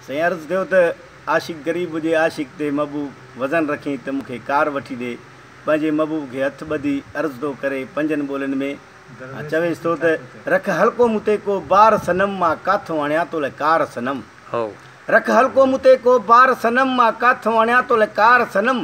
سائين عرض ڪيو ته عاشق غريب جي عاشق تي محبوب وزن رکين ته مون کي ڪار وٺي ڏي پنهنجي محبوب کي هٿ ٻڌي عرض ٿو ڪري پنجن ٻولين ۾ ۽ چويس ٿو ته رک هلڪو مون تي ڪو بار صنم مان ڪاٿو آڻيان تو لئه ڪار صنم رک هلڪو مون تي ڪو بار صنم مان ڪاٿو آڻيان تو لئه ڪار صنم.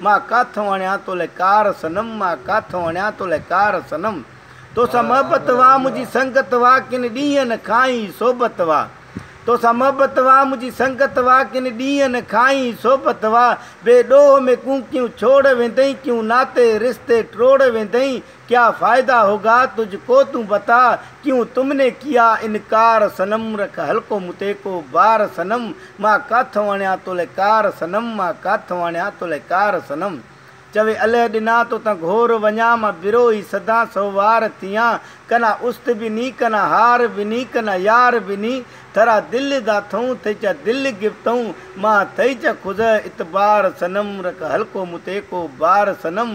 مان ڪاٿئون اڻيان تولئه ڪار صنم مان ڪاٿئون اڻيان تولئه ڪار صنم توسان محبت واه منهنجي سنگت واه ڪن ڏينهن کان ئي صحبت واه توسان محبت واه منهنجي سنگت واه ڪن ڏينهن کان ئي صحبت واه بي ڏوهه ۾ ڪونڪيون ڇوڙ ويندئين ڪيون ناتي رشتي ٽروڙ ويندئين ڪيا فائده هوگا تجھ ڪو تون بتا ڪيون تم ني ڪيا انڪار صنم رک حلقو متي ڪو بار صنم مان ڪاٿ واڻيا تولئه ڪار صنم مان ڪاٿ واڻيا تولئه ڪار صنم چوي الئه ڏنا تو تان گهور وڃان مان برو ئي سدان سهوار ٿيان ڪنا است به ني ڪنا هار به ني ڪنا يار به ني ٿرا دل دا ٿئون ٿئي چا دل گفتئون مان ٿئي چا خضع اتبار صنم رک حلقو متي ڪو بار صنم